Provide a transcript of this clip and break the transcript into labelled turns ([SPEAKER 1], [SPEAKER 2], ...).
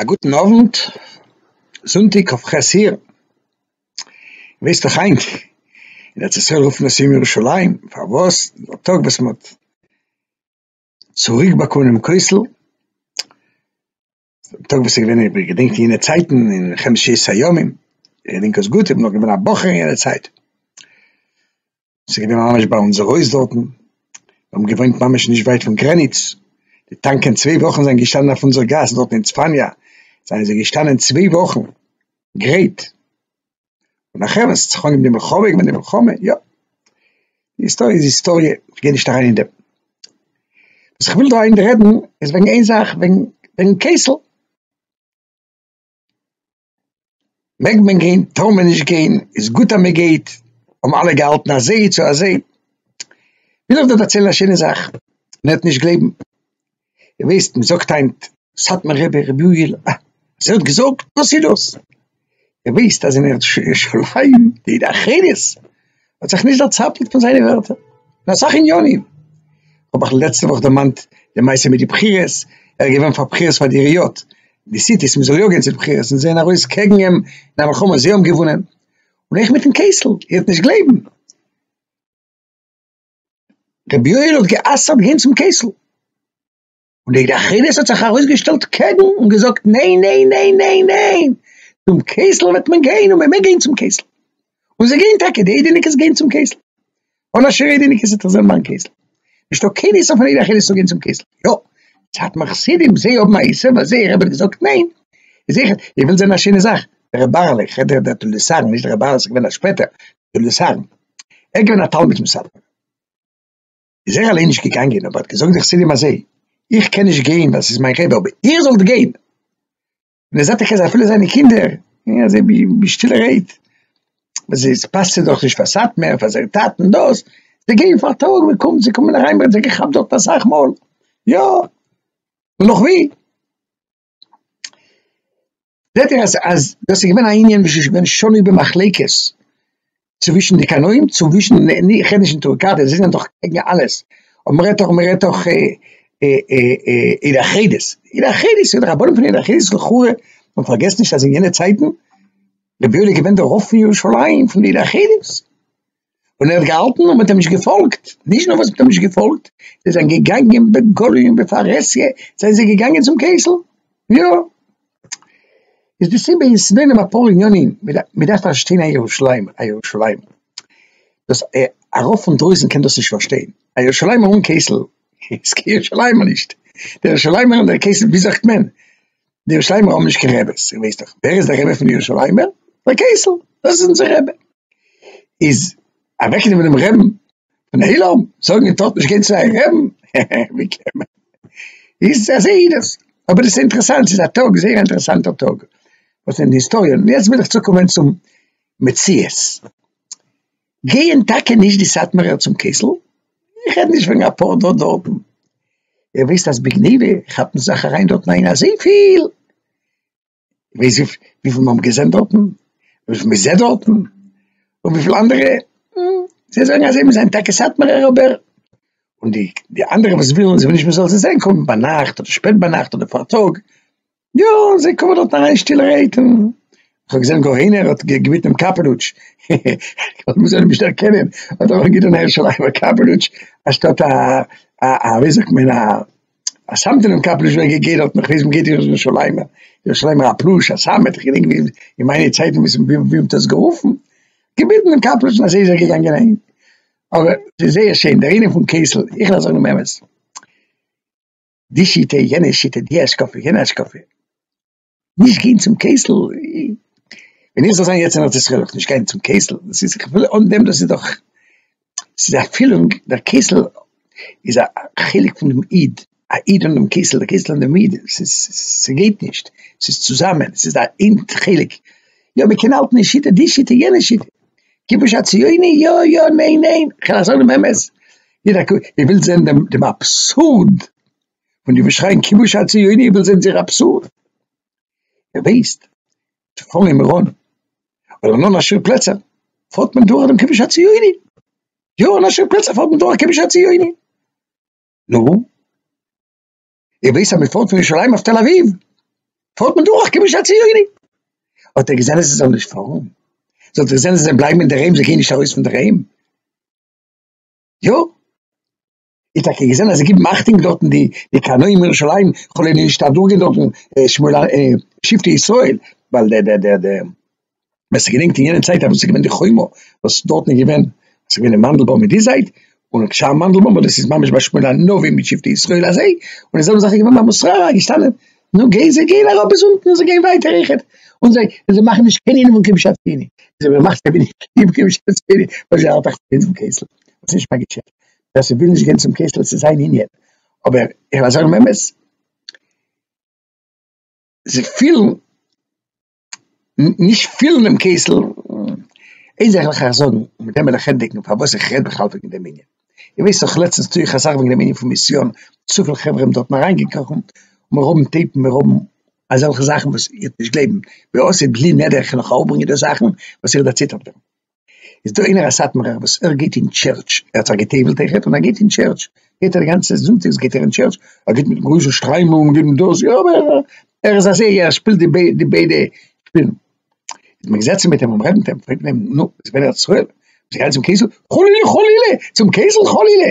[SPEAKER 1] א גוטן אוונט, זונטאג כ ח אייר, ווייסט דאך היינט אין ארץ ישראל רופן עס יום ירושלים, פארוואס? ווייל די טאג וואס מען האט צוריק באקומען דעם כותל, טאג וואס איז געווען איך בין געדענקט יענע צייטן אין חמשת הימים איך געדענק עס גוט איך בין נאך געווען א בחור אין יענע צייט עס איז געווען ממש ביי אונזער הויז דארטן מיר האבן געוואוינט ממש נישט ווייט פון גרעניץ די טאנקען צוויי וואכן זענען געשטאנען אויף אונזער גאס דארטן אין צפניה זענען זיי געשטאנען צוויי וואכן גרייט. און נאך עמער ס'צריך אנגעבן די מלחמה און די מלחמה, יא. די היסטאריע איז היסטאריע, איך גיי נישט אריין אין דעם. וואס איך וויל דא היינט רעדן איז וועגן איין זאך, וועגן וועגן קעסל. מעג מען גיין? טאר מען נישט גיין? איז גוט אז מ'גייט? האבן אלע געהאלטן אזוי צו אזוי? וויל איך דא דערציילן א שיינע זאך, מען וועט נישט גלייבן. איר וויסט מען זאגט היינט סאטמאר רבי רבי יואל א אז ער האט געזאגט וואס איז דאס? איר וויסט אז אין ארץ ירושלים די עדה החרדית האט זיך נישט דערצאפלט פון זיינע ווערטער אין אסאך עניינים, כ'האב אייך לעצטע וואך דערמאנט די מעשה מיט די בחירות, ער איז געווען פאר בחירות פאר די עיריות, די סיטיס מען זאל יא גיין צו די בחירות און זעהן ארויס קעגן אים אין א מלחמה זיי האבן געוואונען, און אויך מיטן קעסל, איר וועט נישט גלייבן. רבי יואל האט גע'אסר'ט גיין צום קעסל, און דער אחריות האט זיך ארויסגעשטעלט קעגן און געזאגט ניין ניין ניין ניין ניין, צום קעסל וועט מען גיין און מען מעג גיין צום קעסל, און זיי גייען טאקע, די אידעניקעס גייען צום קעסל, אן א שר אידעניקעס וועט זיך זען ביים קעסל, נישטא קיין איסור פון אידער אחריות צו גיין צום קעסל, יא, סאטמאר חסידים זיי האבן א איסור ווייל זייער רבי האט געזאגט ניין, איז זיכער, איר ווילט זען א שיינע זאך, דער רבי בערל, איך רעד דא דער תולדות אהרן, נישט דער רבי בערל איז געווען א שפעטער, דעם ניסיון, ער איז געווען א תלמיד פון סאטמאר, איז ער אליין נישט געגאנגען אבער האט געזאגט די חסידים אזוי, איך קען נישט גיין ווייל ס'איז מיין רבי אבער איר זאלט גיין, און ער זעט טאקע אז אפילו זיינע קינדער גייען אזוי בשטילע רייד, ווייל עס פאסט זיי דאך נישט פאר סאטמאר פאר זייער טאטן דאס, זיי גייען פאר א טאג מען קומט זיי קומען אריין מען האט זיי געכאפט דארט אסאך מאל, יא נאך ווי. זעט איר אז דאס איז געווען א ענין וואס איז געווען שנוי במחלוקת צווישן די קנאים, צווישן איך רעד נישט אין טורקאט זיי זענען דאך קעגן אלעס, אבער מען רעדט דאך מען רעדט דאך עדה החרדית, עדה החרדית און די רבנים פון עדה החרדית וכו', און פארגעסט נישט אז אין יענע צייטן רבי יואל איז געווען דער רב פון ירושלים פון די עדה החרדית. און ער האט געהאלטן און מען האט אים נישט געפאלגט, נישט נאר וואס מען האט אים נישט געפאלגט, זיי זענען געגאנגען בגלוי און בפרהסיא, זענען זיי געגאנגען צום קעסל, יא, איז די סיבה איז ס'דא אין אים אפאר עניינים, מען דארף פארשטיין א ירושלים, א ירושלים, דאס ארויף פון דרויסן קען דאס נישט פארשטיין, א ירושלימער אן קעסל איז קיין ירושלימער נישט, דער ירושלימער און דער קעסל ווי זאגט מען, די ירושלימער האבן נישט קיין רעבעס, איר ווייסט דאך ווער איז דער רבי פון די ירושלימער? ר' קעסל, דאס איז אונזער רבי. איז אוועקנעמען דעם רעבן פון עולם, זאגן איר טארט נישט גיין צו אייער רעבן, ווי קען מען? איז אזוי איז דאס, אבער דאס איז אינטערעסאנט, ס'איז א טאג, זייער א אינטערעסאנטער טאג, וואס אין די היסטאריע, און יעצט וויל איך צוקומען צום מציאות. גייען טאקע נישט די סאטמארער צום קעסל? איך רעד נישט וועגן אפאר דא דארטן, איר ווייסט אז בגניבה כאפט מען זיך אריין דארטן איין אזויפיל, ווייסט וויפיל מ'האבן געזען דארטן? וויפיל מ'זעט דארטן? און וויפיל אנדערע? זיי זאגן אז זיי ווילן זיין טאקע סאטמארער אבער. און די אנדערע וואס ווילן זיי ווילן נישט מ'זאל זיי זען קומען ביינאכט אדער שפעט ביינאכט אדער פארטאג, יא, און זיי קומען דארט אריין שטילערהייט און איך האב געזען גאר איינער האט געביטן אים קאפעלוטש, כ'וואלט מוזען אים נישט דערקענען, האט ער אנגעטון הערשעלע אייוועלט קאפעלוטש אנשטאט א א ווי זאגט מען א א סאמטענעם קאפעלוטש ווען געגעבן האט מיך וויאזוי מ'געט ירושלימער ירושלימער א פלוש א סאמעט איך געדענק ווי אין מיינע צייטן ווי ס'מ ווי מ'האט עס גערופן, געביטן אים קאפעלוטש און אזוי איז ער געגאנגען אהיים, אבער ס'איז זייער שיין דער ענין פון קעסל, איך לאזעך דעם אמת. די שיטה, יענע שיטה, די השקפה, יענע השקפה, נישט גיין צום קעסל, ווען איך זאל זיין יעצט אין ארץ ישראל וועל איך נישט גיין צום קעסל, דאס איז כ'וויל אן דעם דאס איז דאך, ס'איז א פילונג, דער קעסל איז א חלק פונעם איד, א איד אן דעם קעסל, די קעסל אן דעם איד, ס'איז, ס'גייט נישט, ס'איז צוזאמען, ס'איז א אינד חלק, יא מ'קען האלטן די שיטה, די שיטה, יענע שיטה, כ'בין נישט א ציוני, יא יא, ניין ניין, כ'על זאגן דעם אמת. איר ווילט זען דעם אבסורד פון די וואס שרייען כיבוש הציוני, איר ווילט זען זייער אבסורד? איר ווייסט צו פארן אין מירון אדער אין אן א ש פלעצער פארט מען דורך דעם כיבוש הציוני, יא אין א ש פלעצער פארט מען דורך כיבוש הציוני, נו איר ווייסט אז מען פארט פון ירושלים אויף תל אביב פארט מען דורך כיבוש הציוני, האט איר געזען אז זיי זאלן נישט פארן? זאלט איר זען אז זיי בלייבן אינדערהיים זיי גייען נישט ארויס פונדערהיים? יא, איך טאקע געזען אז זיי גיבן אכטונג דארטן די די קרני ירושלים, כולל נישט אדורכגיין דארטן שמואל א שבטי ישראל, ווייל דער דער דער דער ווער ס'געדענקט אין יענע צייט אז ס'איז געווען די חומה וואס דארטן איז געווען ס'געווען אין מאנדלבאם אין די זייט, און שם מאנדלבאם וואס דאס איז ממש ביי שמואל הנביא מיט שבטי ישראל אזוי, און די זעלבע זאך איז געווען ביי מוסררה געשטאנען. נו גיי זיי גייען אראפ ביז אונטן און זיי גייען ווייטער אויכעט, און זיי און זיי מאכן נישט קיין ענין פון קדושת ציני, זיי וועלן מאכן קיין ענין פון קדושת ציני, ווייל זיי האלטן אויך פונעם קעסל, וואס איז נישט מיין געשעפט, ווער ס'וויל נישט גיין צום קעסל ס'איז זיין ענין, אבער איך ווייל זיי האבן אמת, זיי פילן. נישט פילן דעם קעסל, איין זאך וועל איך אייך זאגן, און מיט דעם וועל איך ענדיגן פארוואס איך רעד בכלל וועגן דעם ענין, איר ווייסט דאך לעצטנס טו איך אסאך וועגן דעם ענין פון מיסיאן, צופיל חברה האבן דארטן אריינגעקראכן, מיר האבן טעיפן, מיר האבן אזעלכע זאכן וואס איר וועט נישט גלייבן, ווי אויסזעט בלי נדר איך קען אויך אראפברענגען די זאכן וואס איר דערציטערט ווען. איז דא איינער א סאטמארער וואס ער גייט אין טשערטש, ער האט זיך גע'טובל'ט אויכעט און ער גייט אין טשערטש, גייט ער די גאנצע זונטאגס גייט ער אין טשערטש, ער גייט מיט גרויסע שטריימל און געבן דאס, יא אבער ער איז א זייגער ער שפילט די ביידע די ביידע שפילן, איז מען געזעצן מיט אים און רעדן מיט אים, פרעגט מען אים נו ביסט ווען ארץ ישראל, ביסט געגאנגען צום קעסל, חלילה חלילה צום קעסל חלילה.